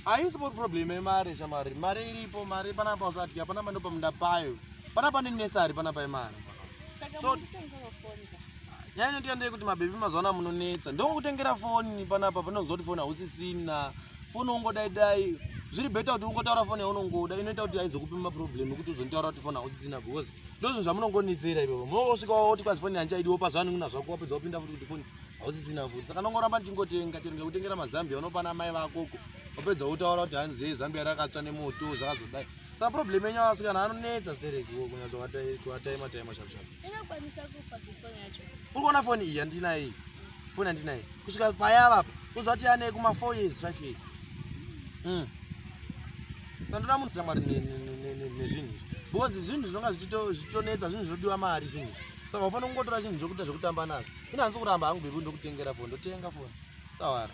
haisi problema yemari shamari mari iripo mari panapa usati hapana mando pamunda payo Pana pane nesari pana pa imari. Saka so, mutengera phone ka. Nyaya inotiya ndeye kuti mabebi mazuva ano munonetsa. Ndongokutengera phone panapa panozoti phone hausisina. Phone ungodai dai zviri better kuti ungotaura foni yaunongoda inoita kuti aizokupi maproblem ekuti uzonitaura kuti foni hausisina because ndozvinhu zvamunongonetsera ivovo munongosvika woti kwazi foni handichaidi wopa zvanhu kuna zvako wapedza wapinda futi kuti foni hausisina futi saka ndongoramba ndichingotenga chero ndikakutengera mazambia unopana mai vakoko wapedza wotaura kuti hanzi zambia rakatsva nemoto zvakazodai Sa problem yenyu asikana anonetsa stereki wo kunyazo watai watai matai mashap shap. Inokwanisa kufa phone yacho. Uri kuona phone iyi andina iyi. Phone andina iyi. Kusvika paya vapa. Uzoti ane kuma 4 years 5 years. Mm. Sandoda munhu samari ne ne ne ne zvinhu. Because zvinhu zvinonga zvichito zvichonetsa zvinhu zvinodiwa mari zvinhu. Saka ufanira kungotora zvinhu zvokuita zvokutamba nazvo. Ina hanzi kuramba hangu bebu ndokutengera phone ndotenga phone. Sawara.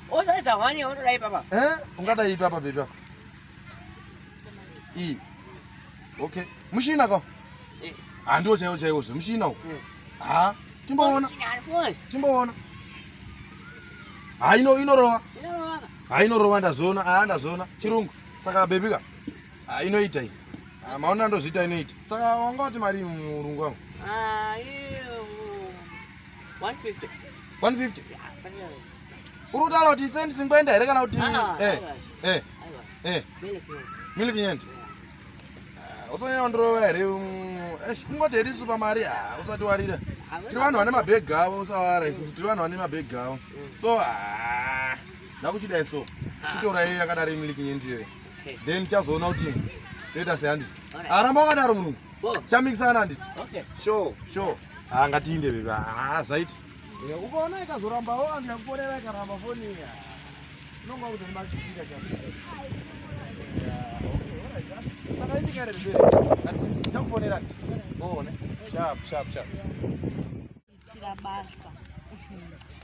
Osaidza hwani yaunodai papa. Eh, ungadai papa baby yako. I. Okay. Mushina ko. Eh. Ah, ndio chaiwo chaiwo zve mushina uko. Eh. Ah, timboona. Timboona. Ah, ino inorowa. Inorowa. Ah, inorowa ndazoona. Ah, ndazoona. Chirungu. Saka baby ka. Ah, inoita iyi. Ah, maona ndozviita inoita. Saka wanga wati mari murungu wangu. Ah, iyo. 150. 150. Yeah, Uri kutaura kuti ise ndisingoenda here kana kuti ah, ah, eh eh eh milk yend. Ah, Usonyanya ndirova here um, eh kungoti here isu pamari usati warira. Tiri vanhu vane mabag avo usawara isu tiri vanhu vane mabag avo. Mm. So ah ndakuchidai so chitora iye yakadaro imiliki nyendiyoyo then chazoona kuti toita sei handiti aramba ah, wakadaro murungu chamikisana handiti sure sure ah, ngatiinde bebe ah, zvaita Eh, ukaona ikazorambawo anhu yakufonera ikaramba foni iya unonga kuti ndimachiita chakufonera ti uone shap shap shap tira basa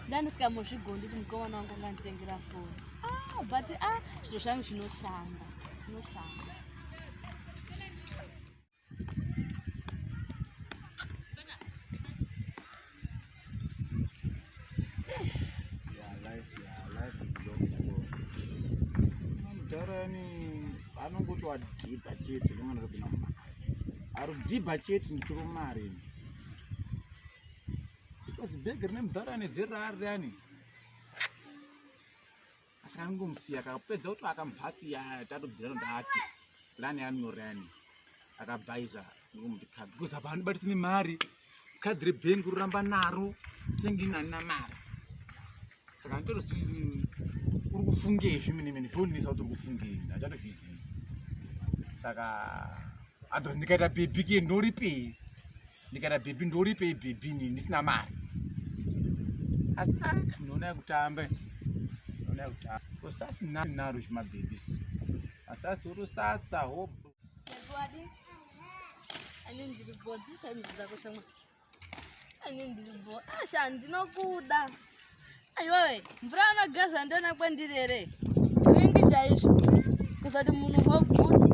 ndandisikamozvigondi kuti mukomana wangu nganditengera foni ah, but a ah, zviro zvangu zvinoshanda zvinoshanda anongoti wadhibha chete nemwana rekuna mumba ari kudhibha chete nditoro mari because bhegi rine mudhara nezera ari rani asi kangomusiya kakapedza kuti akamhatsi ya tatobvira ndati lani yanorani akabhaiza ndomuti kadhi because apa andibatisi nemari kadhi rebhengi roramba naro senge inanina mari saka nditoro si uri kufungei zvimene mene zvondinisa kuti uri kufungei ndachatozvizivi saka adho ndikaita bebike ndoripei ndikata bhebhi ndoripei bhebhi nini ndisina mari asi ah, ndinoona yekutamba ndinoona yekutamba ko sasi nani naro zvimabhebhi asasi torosasa hob ani ndiri bo dzisaimidzi dzako shamwa ani ndiri bo asha ah, ndinokuda aiwawe mvura anogeza ndona kwendiri here ringi chaizvo kusati munhu hobvudzi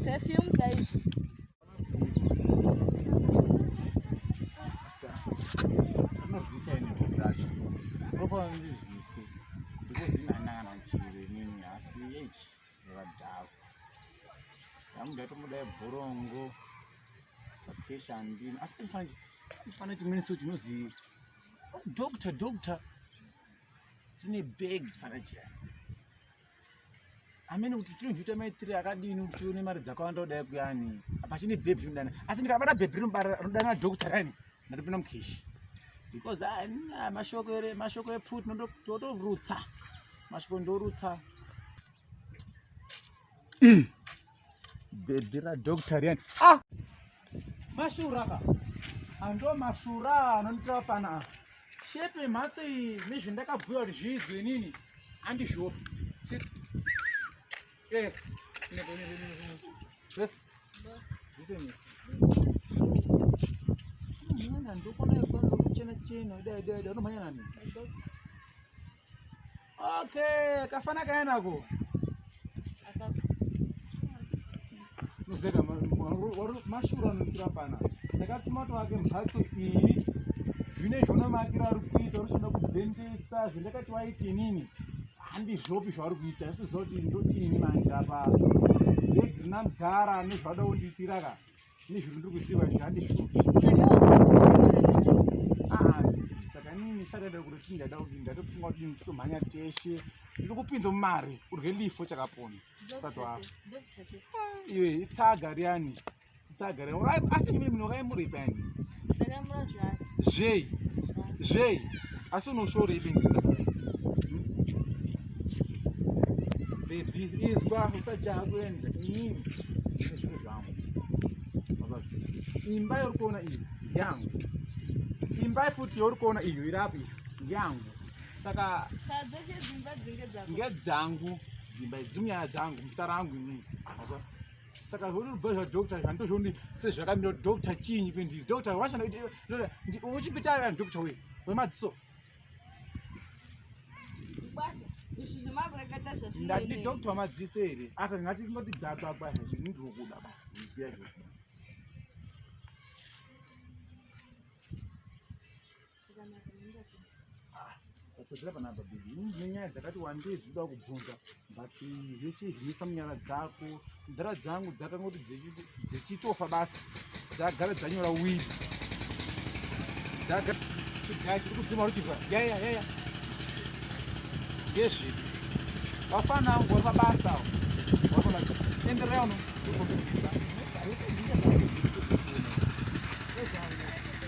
perfume chaizvo anozvisa ine bhuku racho ndofanira ndizvise because inanangana chiro inini asi echi nevadhako ndamuda tomudai bhorongo vakesha andini asi paifanira ifanira chimweni so chinozi oh, doctor doctor tine bag fanira chiyani amene kuti tinozviita maitire akadini kuti tione mari dzakawanda kudai kuyani pachine bhebhi tinodana asi ndikabata bhebhi rinodana dhokta rani ndatopinda mukeshi because ah, ah, mashoko ere mashoko epfuti totorutsa mashoko ndorutsa bhebhi radoctor riyani ah! mashura ka ando mashura anonditaa pana shepe mhatso iyi nezvendakabhuya kuti zviizwe inini andizvopi eh, ndokonaa kuchena chena dai dai dai unomhanya nani Okay, kafana kaenako. Muzeka mashura anoitira pana. Ndakatuma twake mhatso iyi. Zvine zvona makira ari kuita unoshanda kubhendesa zvendakati waiti inini. Handizvopi zvauri kuita. Asi zoti ndodini manje apa. Ndegina mdhara nezvada undiitira ka. Ini zviri ndiri kuziva izvi handizvo. Ah, saka inini saka ndada kuti tini ndada kuti ndada kufunga kuti ini titomhanya teshe ndiri kupinza mumari urye lifo chakapona usati wafa iwe itsaga riyani itsaga riyani asi ndimene munhu wakaimuripa yani zvei zvei asi unoshorei benzida bebi izwa usajaha kuenda inini zviro zvangu imba yauri kuona iyo yangu imba futi yauri kuona iyo iri apo iyo yangu saka ngedzangu dzimba idzi munyaya dzangu muzita rangu inini saka zvaunobva zvadoctor izvi handozvioni sezvakamira kuti doctor chiinyi pendiri doctor washanda uchipita ari ani doctor wei wemadziso ndati doctor wamadziso here aka ngati ngoti gagagwa zvini ndiri kuda basi iziya zviri basi Sasozera pana baba baby. Nenyaya dzakati wandei zvinoda kubvunza but zvese zvinofa munyara dzako. Ndara dzangu dzakangoti dzichitofa basi. Dzagara dzanyora wili. Dzagara chigaya chiri kudzima ruchibva. Yaya yaya. Ngezvipi? Vafana wangu vari mabasa awo. Vari mabasa. Enderai uno.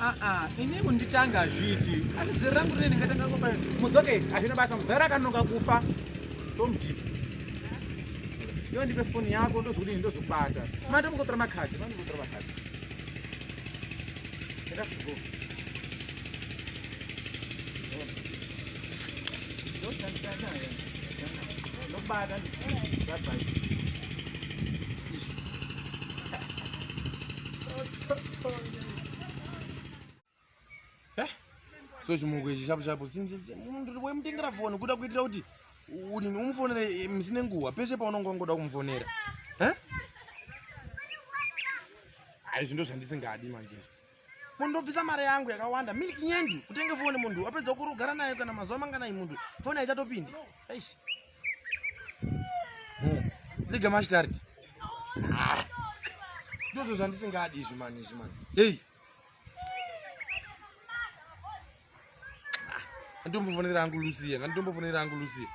Ah, ah, ini kunditanga zviti asi zero rangu rine ndingatanga kufa mudzoke hazvina basa mudhara akanonoka kufa tomuti iwe ndipe foni yako ndozokudini ndozokubata manda mukotora makadhi manda mukotora makadhi enda fugo ndoshandisa naye ndokubata ndibye Eh, so chimoko ichi chapo chapo wemutengera foni kuda kuitira kuti udini umufonere eh, misi nenguva peshe paunonga wangoda kumufonera eh? aizvi ndo zvandisingadi manje mundobvisa mari yangu yakawanda milk nyendi kutenge foni munhu wapedza kurugara nayo kana mazuva manganai munhu foni haichatopindi aishi hmm. liga mashitariti ah. ndozvo zvandisingadi izvi mani izvi mani hei Anditombofonera hangu Lucia, anditombofonera hangu Lucia.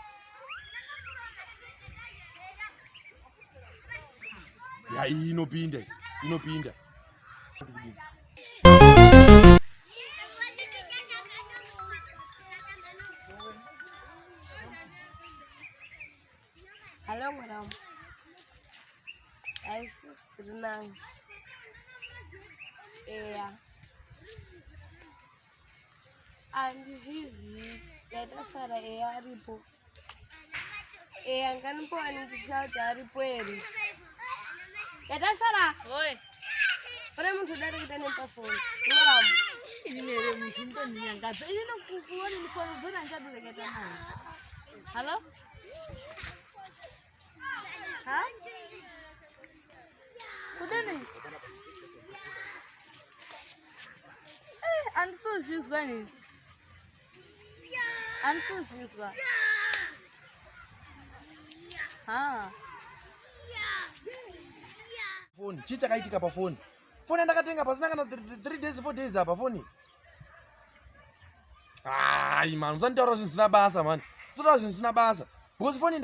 Ya iyi inopinda, inopinda. Hello, madam. I suppose to know. Yeah. andizvizivi ndaita sara eya aripo eya nganipoaningisisa kuti aripo here ndaita sara pane muntu udari kuita nepafoni ngaramu inimere muntu mutondinyangadza ini nokukuona nifoni dzona ndichadoreketa naye hallo Ha? Kudini? Eh, andisozvizwa ini. Andisozvizwa. Ha. Phone, chii chakaitika pa phone? Phone yandakatenga pasina kana 3 days 4 days apa phone. hayi mani usanitaura zvinhu zvisina basa mani usanitaura zvinhu zvisina basa because foni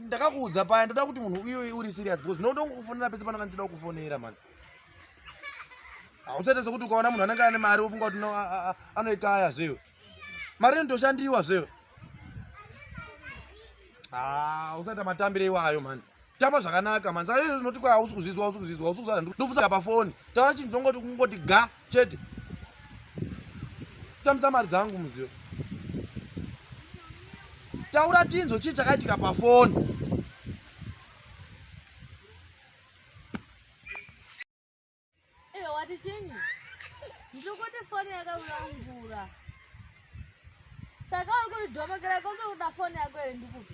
ndakakuudza paya ndoda kuti munhu uye uri serious because ndinoda kukufonera pese panaka ndichida kukufonera mani hausaite sekuti ukaona munhu anenge ane mari wofunga kuti anoikaya zveyo mari inotoshandiwa zveyo hausaita matambire iwayo mani tamba zvakanaka mani saka izvo zvinoti kwa hausi kuzvizwa hausi kuzvizwa hausi kuzvizwa ndofudza pafoni taura chinhu tongoti kungoti ga chete tambisa mari dzangu muzivo taura tinzo chii chakaitika pafoni wati chinyi ndikuti foni yakaura mvura saka uri kuti dhomokera kombe kuda foni yako here ndikuti